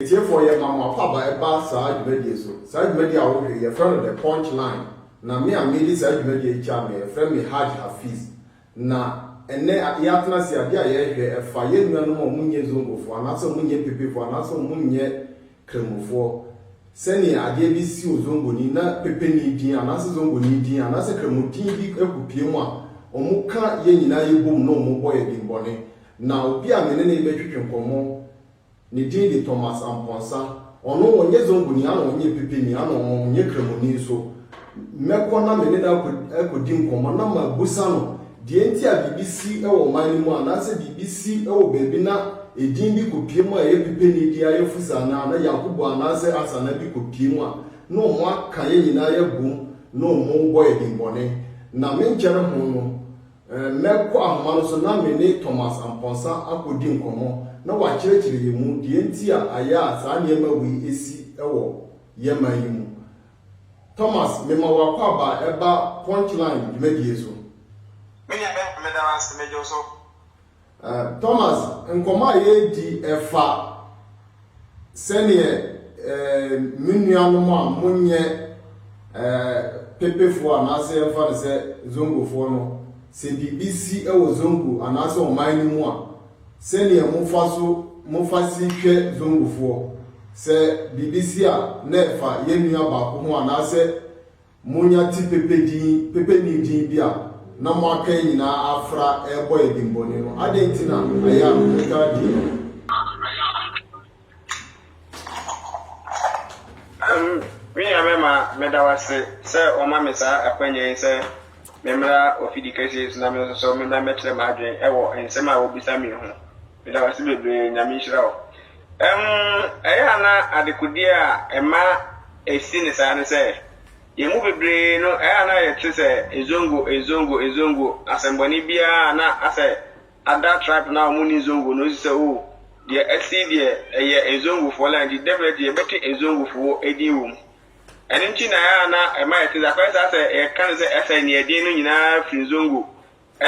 Atiefoɔ, yɛma mo akwaaba ɛba saa dwumadie so. Saa dwumadie a wohwɛ yi, yɛfrɛ no The Punch Line, na me a mede saa dwumadie yi kyea no, yɛfrɛ me Haj Hafiz. Na ɛnnɛ, yɛatena ase, adeɛ a yɛrehwɛ, ɛfa yɛn nuanom a wɔnyɛ Zongofoɔ, anaasɛ wɔnyɛ Pepefoɔ, anaasɛ wɔnyɛ Kremofoɔ, sɛdeɛ adeɛ bi si wɔ Zongoni, na Pepeni din, anaasɛ Zongoni din, anaasɛ Kremo din bi kɔpue mu a, wɔka yɛn nyinaa yɛbom na wɔbɔ yɛn din bɔne. Na obi a me ne no rebɛtwetwe nkɔmmɔ Ne din de Thomas Amponsah. Ɔno ɔnnyɛ Zonguni, ana ɔnnyɛ Mpipini, ana ɔnnyɛ Kramoni nso. Mɛkɔ na me ne no akodi nkɔmmɔ na mabusa no deɛ nti a biribi si wɔ ɔman no mu anaasɛ biribi si wɔ baabi na edin bi kɔpue mu a ɛyɛ Pipeni deɛ ayɛ Fusa anaa na Yankubu anaasɛ Asana bi kɔpue mu a na wɔn aka yɛn nyinaa yɛn abom na wɔn rebɔ yɛn dimmɔne. Na menkyɛre ho no, Mɛkɔ ahoma no so na me ne Thomas Amponsah akodi nkɔmmɔ na wakyerɛkyerɛ yɛn mu deɛ nti a ayɛ a saa nneɛma wei asi wɔ yɛn man yi mu. Thomas, mema w'akwaaba a ɛba Punchline dwumadie so. Me nua Ben, meda wo ase. Megye wo so. Eh, Thomas, nkɔmmɔ a yɛredi ɛfa sɛdeɛ eh, me nuanom a monyɛ eh, pepefoɔ anaasɛ yɛmfa no sɛ zongofoɔ no, sɛ biribi si wɔ zongo anaasɛ ɔman no mu a, sɛdeɛ mofa so mofa si hwɛ zongofoɔ. Sɛ biribi si a, na ɛfa yɛn nua baako ho anaasɛ Monya ti pepe din, pepeni din bi a na mo aka yi nyinaa afra rebɔ yɛ dimmɔne no, adɛn nti na ɛyɛ a motaa di no? Me nua bɛma, meda wo ase sɛ wɔama me saa akwanya yi sɛ memmra ofidi kɛseɛ yi so na me nso so memmra mmɛkyerɛ m'adwene wɔ nsɛm a wobisa me yi ho. Meda wo ase bebree, Nyame nhyira wo. Ɛm, ɛyɛ a na adekodeɛ a ɛma ɛsi no saa ne sɛ, yɛn mu bebree no, ɛyɛ a na yɛte sɛ Zongo, Zongo, Zongo, asɛmmɔne biara a na asɛ ada tribe no a wɔn nni Zongo no nso sɛ, oh, deɛ asi yi deɛ, ɛyɛ Zongofoɔ land, nti definitely yɛbɛte Zongofoɔ din wɔ mu. Ɛno nti na ɛyɛ a na ɛma yɛte saa, kɔyɛ saa sɛ yɛka no sɛ ɛsɛ Nea Ɛden no nyinaa firi Zongo,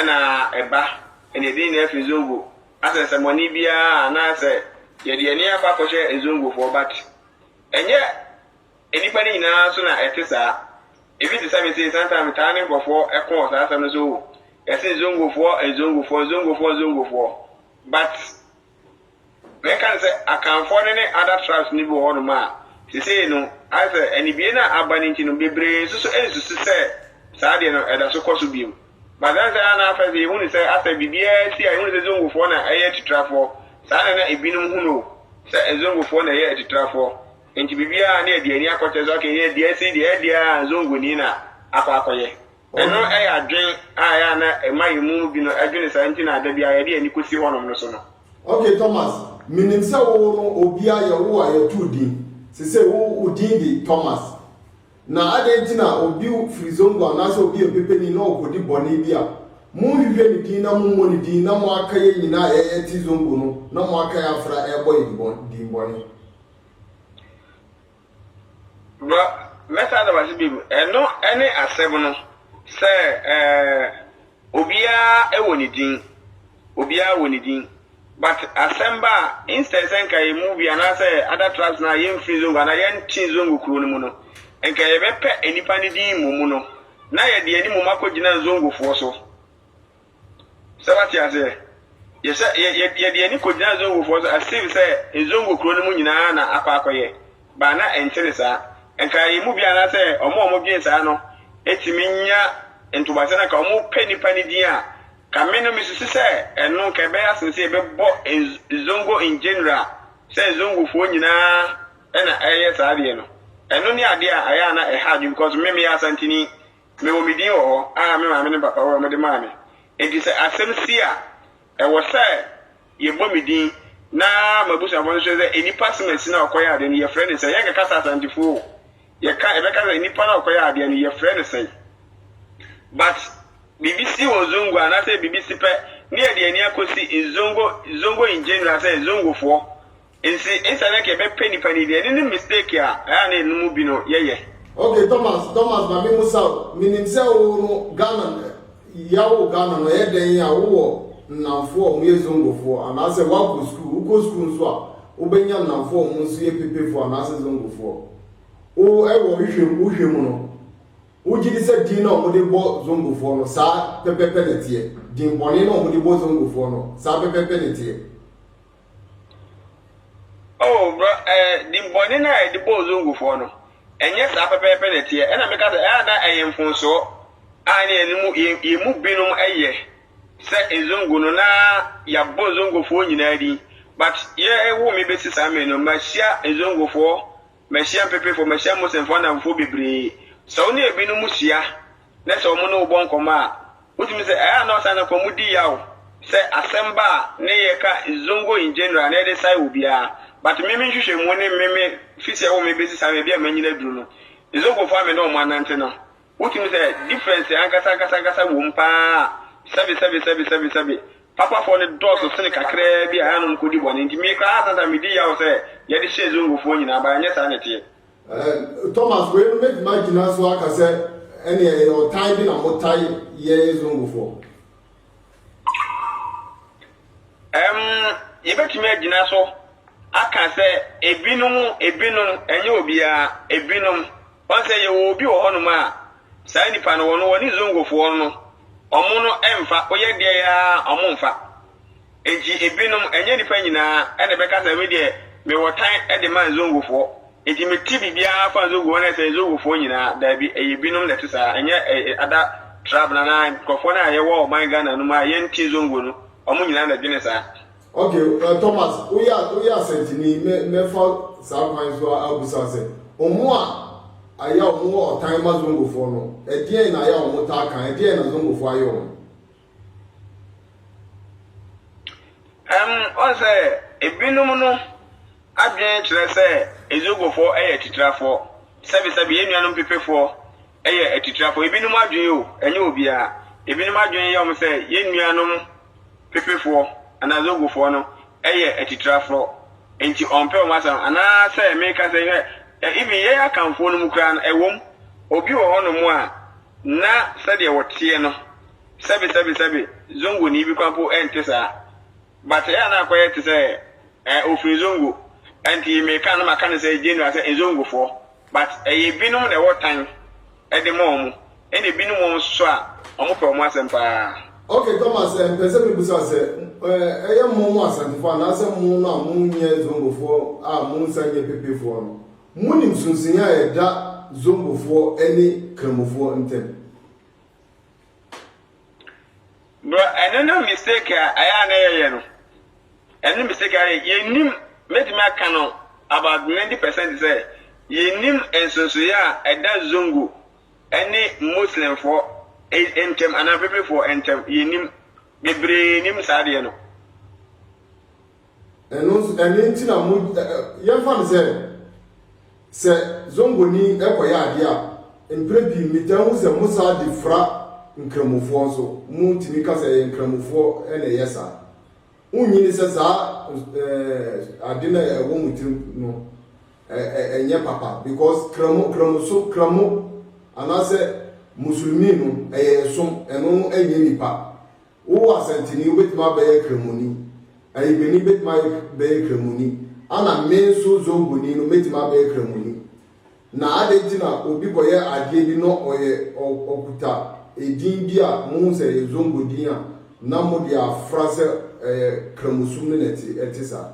na ɛba, ɛnna yɛde yɛn nyinaa fi Zongo. Asɛnsɛmmɔne biara a anaasɛ yɛde yɛn ani akɔ akɔhwɛ Nzongofoɔ but ɛnyɛ nnipa no nyinaa so na ɛte saa. Ebi te sɛ me sei, sometimes metaa ne nkurɔfoɔ ko wɔ saa asɛm no so, oh, yɛse Nzongofoɔ, Nzongofoɔ, Nzongofoɔ, Nzongofoɔ but. Na ɛka no sɛ Akanfoɔ no ne other tribes no bi wɔ hɔnom a sesei no ayɛ sɛ anibue no a aba no nti no bebree nso so nsusu sɛ saa deɛ no ɛda so kɔ so bio. But ɛne sɛ a na afei sɛ yɛhunu sɛ asɛ biribiara asi a yɛhunu sɛ Zongofoɔ na ɛyɛ atitrafoɔ saa na na ebinom hunu o sɛ Nzongofoɔ na ɛyɛ atitrafoɔ nti biribiara ne yɛde yɛn ani akɔkyerɛ so aka yɛn sɛ deɛ asi deɛ ɛyɛ deɛ a Nzongoni na akɔ akɔyɛ. Ɛno yɛ adwene a ɛyɛ a na ɛma yɛn mu binom dwene saa nti na da biara yɛde yɛn ani kɔsi hɔnom no so no. Okay Thomas, menim sɛ wo no obiara yɛ wo a yɛto wo din, sesei wo wo din de Thomas. Na adɛn nti na obi firi Zongo anaasɛ obi yɛ mpepani na ɔkɔdi bɔne bi a, monhwehwɛ ne din na mommɔ ne din na moaka yɛn nyinaa a yɛte Zongo no na moaka yɛn afra rebɔ yɛn din bɔne? Bro, mɛsan aba so bio. Ɛno ne asɛm no, sɛ obiara wɔ ne din, obiara wɔ ne din, but asɛm ba a, instead sɛ nka yɛn mu bi anaasɛ other tribes no a yɛmfiri Zongo anaa yɛnte Zongo kuro no mu no, nka yɛbɛpɛ nnipa no din mmom no, na yɛde yɛn anim akɔgyina Zongofoɔ so. Sɛ wate aseɛ? Yɛ sɛ yɛ yɛ yɛde yɛn ani kɔgyina Zongofoɔ so as if sɛ Zongo kuro no mu nyinaa na akɔ akɔyɛ but na ɛnte ne saa. Nka yɛn mu biara anaasɛ wɔn a wɔdwene saa no tumi nya ntoboaseɛ na nka wɔpɛ nipa no din a, nka me no mesusu sɛ ɛno nka ɛbɛyɛ asene sɛ yɛbɛbɔ Nz Zongo in general sɛ Zongofoɔ nyinaa na ɛyɛ saa adeɛ no. Ɛno ne adeɛ a ɛyɛ a na ɛha adwene because me meyɛ Asanteni Mewɔ me din wɔ hɔ a me maame ne me papa wɔ a wɔde maa me. Enti sɛ asɛm si a, ɛwɔ sɛ yɛbɔ me din na m'abusuafo nso hwɛ sɛ nnipa som asi no a ɔkɔyɛɛ adeɛ no, yɛfrɛ no sɛn. Yɛrenkasa Asantefo o, yɛka, yɛbɛka sɛ nnipa no a ɔkɔyɛɛ adeɛ no, yɛfrɛ no sɛn. But biribi si wɔ Zongo anaasɛ biribi si pɛ, ne yɛde yɛn ani akɔsi Zongo, Zongo in general sɛ Zongofoɔ Ntsi esian dɛ yɛbɛpɛ nyimpa no yie no, no mistake a ɔyɛ a na hɛn mu bi no yɛyɛ. Ok Thomas Thomas ma me musa wo, minim sɛ wo no Ghana yaw wo Ghana no ɛyɛ dɛn a wo wɔ nnamfoɔ a ɔmo yɛ Zongofoɔ anaasɛ woakɔ sukuu, wo kɔ sukuu nso a wo bɛnya nnamfoɔ a ɔmo nso yɛ Pepefoɔ anaasɛ Zongofoɔ? Wo ɛwɔ hwehwɛ mu wo hwɛ mu no wo gyedi sɛ din no a ɔmo de bɔ Zongofoɔ no saa pɛpɛpɛ na ɛteɛ? Din bɔne no a ɔmo de bɔ Zongofoɔ no saa pɛpɛpɛ na ɛteɛ? Oh bro ɛɛ din bɔne no a yɛde bɔ Ozongofoɔ no, ɛnyɛ saa pɛpɛɛpɛ na ɛteɛ. Ɛna meka sɛ ɛyɛ a na ɛyɛ mfomsoɔ a ɛna yɛn mu yɛn yɛn mu binom yɛ sɛ Ezongo no na yɛabɔ Ezongofoɔ nyinaa din. But yɛwo me bɛsi saa mmere no, mahyia Ezongofoɔ Mahyia Mpepefo, mahyia Muslimfo anamfo bebree. Sɛ wo ne ebinom hyia na sɛ wɔne wo bɔ nkɔmmɔ a, wotumi sɛ, Ɛyɛ a na ɔsan kɔ mu di yaw sɛ asɛm ba a na yɛka Zongo in general na yɛde sae obiara. But me me nhwehwɛmu ne me me fi sɛ ɛwɔ me besi saa mmeabi a manyin aduru no, Zongofo a me ne wɔn anante no, Wotumi sɛ difference ankasa ankasa ankasa wom paa a, sɛbe sɛbe sɛbe sɛbe sɛbe. Papafoɔ no dɔɔso sene kakraa bi a ɛa na wɔkɔdi bɔne. Nti me koraa saa saa medi yaw sɛ yɛde hyɛɛ Zongofoɔ nyinaa but ɛnyɛ saa na ɛteɛ. Eh, Thomas, wei no mɛtumi agyina so aka sɛ ɛneɛ ɛyɛ ɔtan bi na motae yɛn Zongofoɔ. Ɛm, yɛbɛtumi agyina so aka sɛ ebinom, ebinom, ɛnyɛ obiara, ebinom. Wɔn sɛ yɛwɔ obi wɔ hɔnom a, saa nipa no, wɔn, wɔne Zongofoɔ no, wɔn no ɛmfa, woyɛ deɛ yɛ ara, wɔn mfa. Enti ebinom, ɛnyɛ nipa nyinaa, ɛna ɛbɛka sɛ, me deɛ, mewɔ tan de ma Zongofoɔ. Enti mete biribiara fa Zogo ho na ɛsɛ Zogofoɔ nyinaa? Daabi, ɛyɛ binom na ɛte saa, ɛnyɛ ɛɛ ada trab anaa nkurɔfoɔ no a yɛwɔ ɔman Ghana no mu a yɛnte Zongo no, wɔn nyinaa na ɛdwene saa. Ok, ɛɛ Thomas, woyɛ woyɛ asɛntini yi, mɛ mɛfa saa kwan yi so abisa wo sɛ, wɔn a ayɛ a wɔwɔ ɔtan ma Zongofoɔ no, ɛdeɛn na ayɛ a wɔtaa ka, ɛdeɛn na Zongofoɔ ayɛ wɔn? Ɛwom sɛ ebinom no adwene kyerɛ sɛ Ezogofoɔ yɛ atitirafoɔ, sɛbesɛbe yɛn nuanom Pepefoɔ yɛ atitirafoɔ, ebinom adwene o, ɛnyɛ obiara, ebinom adwene yɛ wɔn sɛ yɛn nuanom Pepefoɔ anaa Ezogofoɔ no yɛ atitirafoɔ, enti wɔmpɛ wɔn asɛm. Anaasɛ mereka sɛ, hwɛ, even yɛn Akanfoɔ no mu koraa no, ɛwom, obi wɔ hɔnom a, Ná sɛdeɛ wɔteɛ no, sɛbe sɛbe sɛbe, Zongoni bi koraa mpo nte saa. But ɛyɛ a na akɔyɛ te sɛ eh, ɔfiri Zongo, ɛnti meka no na maka no sɛ general sɛ Nzongofoɔ. But ɛyɛ binom na ɛwɔ tan de ma wɔn, ɛna binom wɔ hɔ nso a, wɔpɛ wɔn asɛm pa ara. Ok Thomas, eh, mpɛ sɛ mebisa sɛ, eh, ɛyɛ mo mo Asantefoɔ anaasɛ mo no a mo nyɛ Zongofoɔ a mo nsa nyɛ pepefoɔ no, Monim sonsenni a ɛda Zombofoɔ ne Kramofoɔ ntam? Bro ɛno na mistake a ɛyɛ a na yɛyɛ no ɛno na mistake a yɛyɛ yɛnim mɛtumi aka no about 90 percent sɛ yɛnim nsonsoyɛ a ɛda zongo ɛne muslimfoɔ ntɛm anaa pepefoɔ ntɛm yɛnim bebree nim saa deɛ no. Ɛno nso, ɛno nti na mo, yɛmfa no sɛ, sɛ zongoni kɔyɛ adeɛ a, mprɛ pii metaa hu sɛ mo saa de fra nkramofoɔ nso, mo tumi ka sɛ ɛyɛ nkramofoɔ na ɛyɛ saa. Wonyini sɛ saa ade no a ɛwɔ mo tirim no, ɛnyɛ papa because kramo, kramoso, kramo anaasɛ musulmi no, ɛyɛ ɛsom, ɛno no ɛnyɛ nipa. Wowɔ asɛntini, wobɛtumi abɛyɛ Kramoni. Ayigbenni bɛtumi ayɛ bɛyɛ Kramoni. Ana me nso Zongoni no mɛtumi abɛyɛ Kramoni? Na adɛn nti na obi kɔyɛ adeɛ bi na ɔyɛ ɔ ɔkuta edin bi a mohu sɛ ɛyɛ Zongo din a na mode afra sɛ ɛyɛ Kramosum no na ɛte ɛte saa?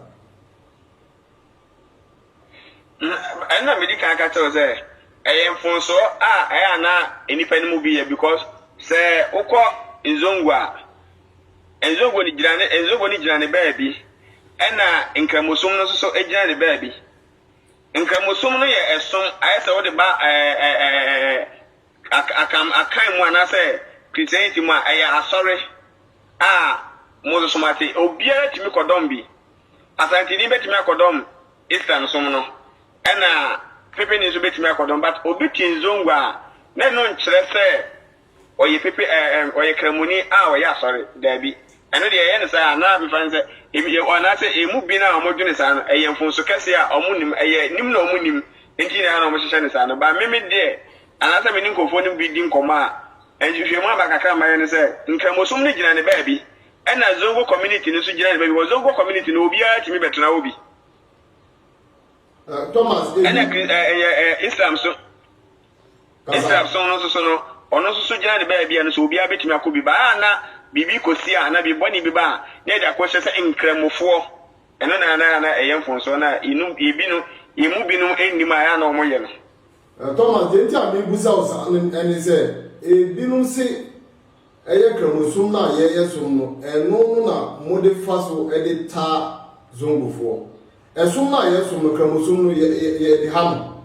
Na ɛno na medi kan ka kyerɛ wo sɛ ɛyɛ mfomsoɔ a ɛyɛ a na nnipa no mu bi yɛ because sɛ wokɔ Nzongo a, Nzongo no gyina ne Nzongo no gyina ne baabi ɛna Nkramosom no nso so gyina ne baabi. Nkramosom no yɛ ɛsom ayɛ sɛ wode ba ɛɛ ɛɛ ɛɛ ak- akam akan mu anaasɛ Christianity mu a ɛyɛ asɔre a mo nso so moate obiara tumi kɔdɔm bi Asanteni bɛtumi akɔdɔm Islam som no ɛna Pepeni nso bɛtumi akɔdɔm but obi te Nzongo a na ɛno nkyerɛ sɛ ɔyɛ Pepe ɛɛ ɛm ɔyɛ Kramoni a ɔyɛ Asɔre daabi ɛno deɛ yɛyɛ no saa a na mefa no sɛ ebi yɛ anaasɛ emu bi no a wɔn dwene saa no ɛyɛ mfonso kɛseɛ a wɔn nim ɛyɛ nim na wɔn nim nti nyinaa na wɔn hyehyɛ no saa no but me me deɛ anaasɛ me ne nkurɔfoɔ no bi di nkɔmmɔ a nhwehwɛmu aba kakra a mayɛ no sɛ Nkramosom no gyina ne baabi Ɛna Zongo community no nso gyina ne baabi. Wɔ Zongo community no, obiara tumi bɛtena hɔ bi. Ɛna kri ɛyɛ ɛ Islam so. Islam so no nso so no, ɔno nso so gyina ne baabi a no so obiara bɛtumi akɔ bi. Baa na biribi kɔsi a na biribi bɔne bi ba a, na yɛde akɔhyɛ sɛ nkramofoɔ. Ɛno na na na ɛyɛ mfonsoɔ na yɛnum yɛbi no yɛmu binom nnim a ɛyɛ na wɔyɛ no. Thomas, deɛ nti a mebusa wo saa no ɛne sɛ ebinom se Ɛyɛ Kramosom no a yɛyɛ som no, ɛno no na mode fa so de taa Zongofoɔ. Ɛsom no a yɛsom no, Kramosom no, yɛ, yɛ, yɛde ha no.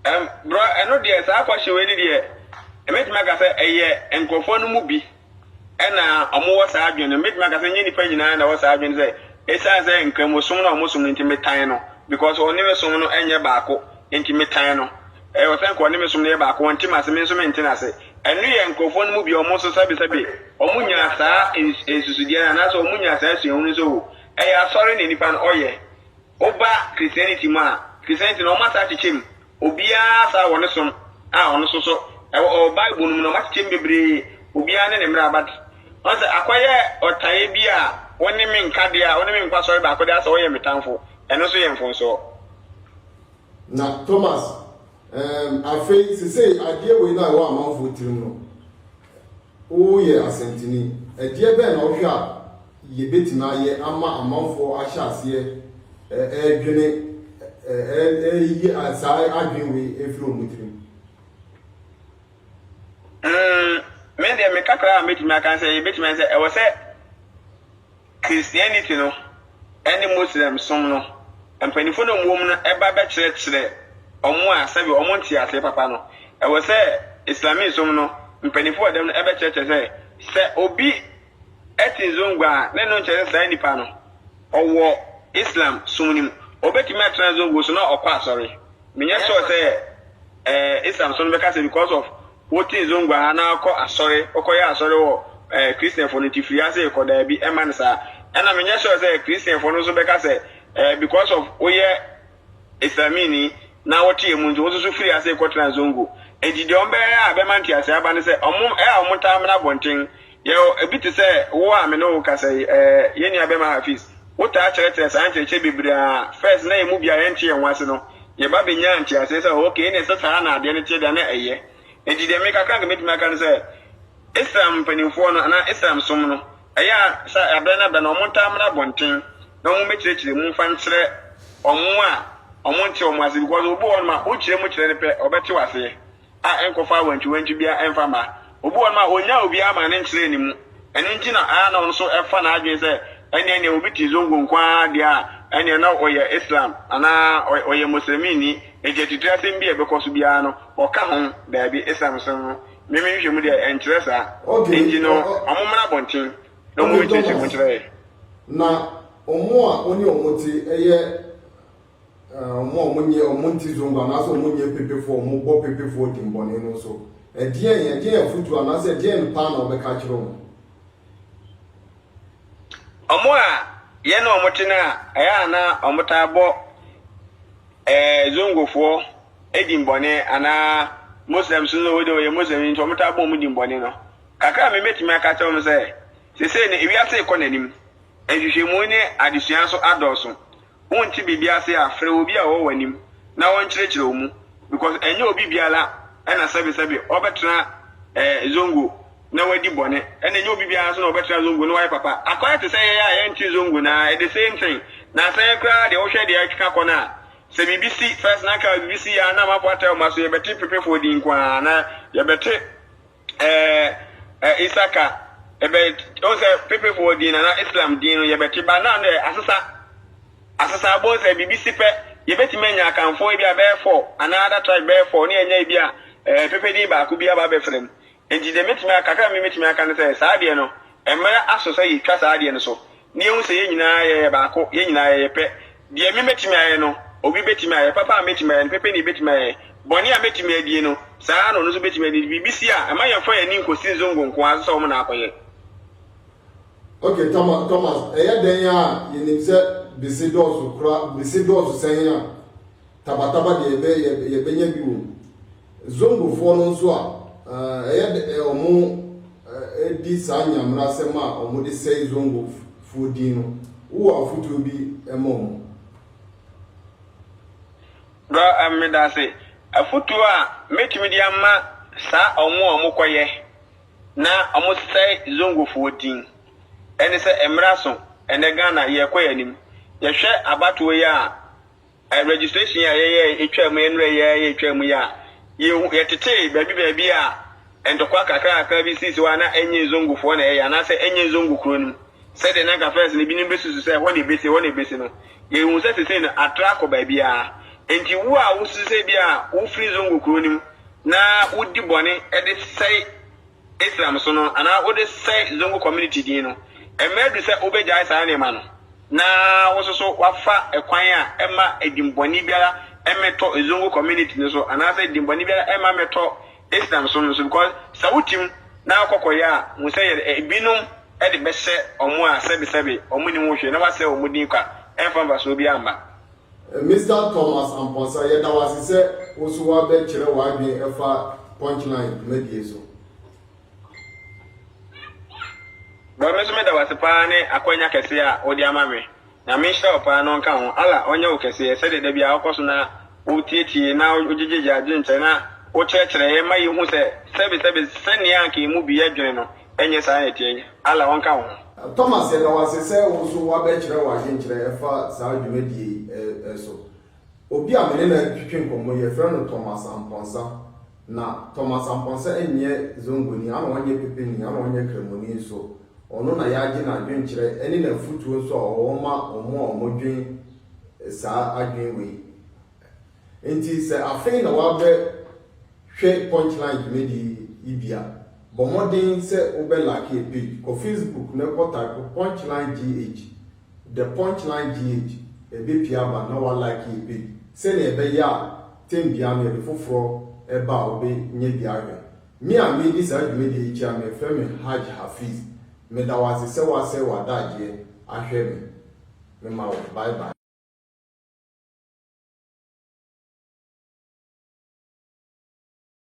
Ɛm, brɔ, ɛno deɛ, saa afahyɛ wei no deɛ, mɛtumi aka sɛ ɛyɛ nkorɔfoɔ no mu bi na wɔwɔ saa adwene no. Mɛtumi aka sɛ nyɛ nnipa nyinaa na ɛwɔ saa adwene sɛ ɛsiane sɛ nkramosom na wɔsom no nti metan no because ɔne me som no nyɛ baako nti metan no. Ɛwɔ sɛ nka ɔne me som no yɛ baako, ɔnte m'ase, me nso mente n'ase. Ɛno yɛ nkurɔfoɔ no mu bi a wɔn nso sɛbesɛbe wɔnya saa nsusudeɛ no anaasɛ wɔnya saa suahunu no sɛ oo ɛyɛ asɔre na nnipa no ɔyɛ. Woba Christianity mu a, Christianity no wɔasan akyekyɛ mu, Obiara saa wɔ ne som a ɔno nso so ɛwɔ ɔwɔ bible no mu no ɔmakyekyɛ mu bebree obiara ne ne mmara but ɔn sɛ akɔyɛ ɔtaeɛ bi a wo ne me nka deɛ a wo ne me nkɔ asɔre baako deɛ asɛ ɔyɛ me tamfo ɛno nso yɛ mfomsoɔ. Na Thomas, ehm, afei sesei adeɛ wei no a ɛwɔ amanfoɔ tirim no, Woyɛ asɛntini. Ɛdeɛ bɛn na wohwɛ a yɛbɛtumi ayɛ ama amanfoɔ ahyɛ aseɛ ɛredwene ɛreyi saa adwene wei ɛfiri wɔn tirim? Mm, me deɛ me kakra a mɛtumi aka sɛ yɛbɛtumi ayɛ sɛ ɛwɔ sɛ Christianity no ne Muslim som no mpanyimfo na wɔwɔ mu no ba bɛkyerɛkyerɛ wɔn a sɛbe wɔn ntee aseɛ papa no, ɛwɔ sɛ Islami som no mpanyimfo wɔ dɛm no bɛkyerɛkyerɛ sɛ, sɛ obi te nzongua a, ne no nkyerɛ sɛ saa nipa no ɔwɔ Islam som no mu. Obetumi atena nzongo so na ɔkɔ asɔre. Menyɛ sure sɛ Islam som no bɛka sɛ because of Wo te zongua ha na kɔ asɔre, wo kɔ yɛ asɔre wɔ eh Christian foɔ no nti firi ha sei kɔ daabi ɛmma no saa. Ɛna me nyɛ sure sɛ Christian foɔ no nso bɛka sɛ eh because of wo yɛ Islamini na wo te ɛmu nti wo nso so firi ha sei kɔ tena zongo. Nti deɛ wɔn bɛyɛ a ɛbɛma nteaseɛ aba ne sɛ wɔn eh a wɔn taa mena abɔnten Yɛwɔ bi te sɛ wo a me ne wo rekasa yi. Ɛɛ, yɛn nuabɛma Hafiz, wotaa kyerɛkyerɛ saa nkyerɛkyerɛ bebree a first na yɛn mu biara yɛnte yɛn ho ase no, yɛba bɛnyaa nteaseɛ sɛ ok, ɛneɛ sɛ saa na adeɛ no teɛ de a na ɛyɛ. Enti deɛ me kakra a nka mɛtumi aka ne sɛ, Islam mpanimfoɔ no anaa Islam som no, ɛyɛ a sɛ aberɛ no aberɛ no wɔn taa mmra abɔnten na wɔn mmɛkyerɛkyerɛ mu mfa nkyerɛ wɔn a wɔn nte wɔn ase because obi wɔ hɔ nom a wo kyerɛ mu kyerɛ no pɛ ɔbɛte wo aseɛ. a ɛnkɔfa awantwiwantwi biara mfa mma. Obi wɔ hɔnom a, onnyaa obiara mmaa no nkyerɛɛ ne mu. Ɛno nti na ɛyɛ a na ɔno nso ɛfa n'adwene sɛ ɛnneɛ neɛ obi te zongo nko ara deɛ a, ɛnneɛ na ɔyɛ Islam anaa ɔyɛ Muslimini. Enti atitire asɛm bi a ɛbɛkɔ so biara no, ɔka ho. Daabi, Islam som no, me me nhwehwɛmu deɛ, ɛnkyerɛ saa. Enti no, wɔmmra abɔnten na wɔmmɛkyerɛkyerɛ mu nkyerɛ yɛn. Na wɔn a wo ne wɔn te yɛ wɔn a wɔnyɛ wɔn nti zongo anaasɛ wɔn nyɛ pepefoɔ wɔn bɔ pepefoɔ dimbɔne no nso ɛdeɛn ɛdeɛn afutuo anaasɛ ɛdeɛn paa na wɔbɛka akyerɛ wɔn. wɔn a yɛne wɔn te no a ɛyɛ a na wɔtaa bɔ ɛɛ zongofoɔ dimbɔne anaa muslims no wɔde wɔyɛ muslim nti wɔtaa bɔ wɔn dimbɔne no kakra a mebɛtumi aka kyerɛ wɔn sɛ sesei no ewiase rekɔ n'anim nhwehwɛmu ne adesua nso adɔɔso. wonte biribi ase a frɛ obi a ɔwɔ w'anim na ɔnkyerɛkyerɛ wo mu because ɛnyɛ obi biara ɛna sɛbe sɛbe ɔbɛtena eh, zongo na wadi bɔne ɛna ɛnyɛ obi biara nso na ɔbɛtena zongo na wayɛ papa akɔyɛ te sɛ yɛyɛ a yɛnte zongo na ɛde same thing na asɛn koraa deɛ wohwɛ deɛ ɛkeka kɔ no a sɛ biribi si first na nka biribi si yɛ a na amafoɔ ataa ɔma so yɛbɛte pepefoɔ din nko ara na yɛbɛte ɛɛ ɛ isaka ɛbɛ ɔn sɛ pepefoɔ din nana islam din no yɛbɛte ba na no asesa asesa abɔ sɛ biribi si pɛ yɛbɛtumi anya akanfoɔ ebi a bɛyɛ fɔ anaa ada tribe bɛyɛ fɔ ne ɛnya ebi a ɛɛ pepe din baako bi aba bɛfrɛ mu nti deɛ mɛtumi akakra mi mɛtumi aka no sɛ saa deɛ no mmerɛ aso sɛ yɛtwa saa deɛ no so ne yɛhu sɛ yɛn nyinaa yɛyɛ baako yɛn nyinaa yɛyɛ pɛ Deɛ me mɛtumi ayɛ no, obi bɛtumi ayɛ, papa a mɛtumi ayɛ no, pɛpɛni bɛtumi ayɛ, bɔne a mɛtumi adie no, saa ara na ɔno nso bɛtumi adie, nti biribi si a, mma yɛmfa yɛn ani nkɔsi Nzongo nko ara so sɛ wɔn na akɔyɛ. Ok Thomas, Thomas, ɛyɛ dɛn a yɛnim sɛ bese dɔɔso koraa, bese dɔɔso sɛn a, Taba Taba deɛ yɛbɛ, yɛbɛnya bi wɔ mu. Zongofoɔ no nso a, ɛyɛ dɛ wɔdi saa nyamerasɛm a wɔde sɛe Zongofoɔ din no, wowɔ afotuo bi ma wɔn? Bro, medase. Afotuo a mɛtumi de ama saa wɔn a wɔkɔyɛ na wɔsɛe Zongofoɔ din ɛne sɛ, mmra so, ɛnɛ Ghana yɛrekɔ yɛn anim. Yɛhwɛ abatoɔ yi a, Registration yi a yɛyɛɛ etwaa mu, nnɛrɛ yi ara yɛtwaa mu yi a, yɛhu, yɛtetee baabi baabi a ntɔkwa kakrakakra bi sii, sɛ hɔ a na ɛnyɛ Zongofoɔ na ɛyɛ, anaasɛ ɛnyɛ Zongo kuro no mu, sɛdeɛ na anka first no ebinom bɛsusu sɛ ɛhɔ na ɛbɛsi, ɛhɔ na ɛbɛsi no. Yɛhuu sɛ seesei no, atra akɔ baabiara. Enti wo a wosusu sɛ ebia wofiri Zongo kuro no mu na wodi bɔne de sɛe Islam som no, anaa wode sɛe Zongo community din no, mmerɛ adu sɛ wobɛgyae saa nneɛma no. na wo nso so woafa kwan a ɛmma dimmɔne biara mmɛtɔ Zongo community no so anaasɛ dimmɔne biara mma mmɛtɔ Islam som no so because sɛ wo tim na wo kɔkɔ yɛ a hu sɛ yɛde ebinom de bɛhyɛ wɔn a sɛbesɛbe wɔn nnim ho hwee na woasɛe wɔn din kwa ɛmfa mfasoɔ biara mma. Mister Thomas Amponsah, yɛda wo ase sɛ wo nso woabɛkyerɛ w'adwene ɛfa Punchline dwumadie so. Bro, me nso meda wase paa ne akwanya kɛse a wode ama me. Nyame nhyira wo paa na ɔnka ho. Allah ɔnyɛ wo kɛseɛ sɛdeɛ da biara wokɔ so na wotiatie na wogyegye yɛn adwenkyerɛ na wokyerɛkyerɛ yɛn ma yɛhu sɛ sɛbesɛbe sɛnea anka yɛn mu bi dwene no ɛnyɛ saa na ɛteɛ. Allah ɔnka wo ho. Thomas, yɛda wo ase sɛ wo nso woabɛkyerɛ w'adwenkyerɛ ɛfa saa dwumadie yi so. Obi a me ne no retwetwe nkɔmmɔ yi, yɛfrɛ no Thomas Amponsah. Na Thomas Amponsah nyɛ Zongoni, ɛna ɔnyɛ Pepeni, ɛna ɔnyɛ Kramoni nso. Ɔno na yɛagye n'adwenkyerɛ ne n'afotuo nso a ɔwɔ ma wɔn a wɔdwen saa adwene wei. Enti sɛ afei na woabɛhwɛ Punchline dwumadie yi bi a, bɔ mmɔden sɛ wobɛ like yɛ page. Kɔ Facebook na kɔ type Punchline GH The Punch Line GH, Ɛbɛpie aba na wa like yɛ page sɛnea ɛbɛyɛ a term biara no yɛde foforɔ ba a wobe nyɛ bi ahwɛ. Me a meedi saa dwumadie yi kyia mefrɛ me Hajj Hafiz. Meda wo ase sɛ woasɛe w'adagyeɛ ahwɛ me. Mema wo bye bye.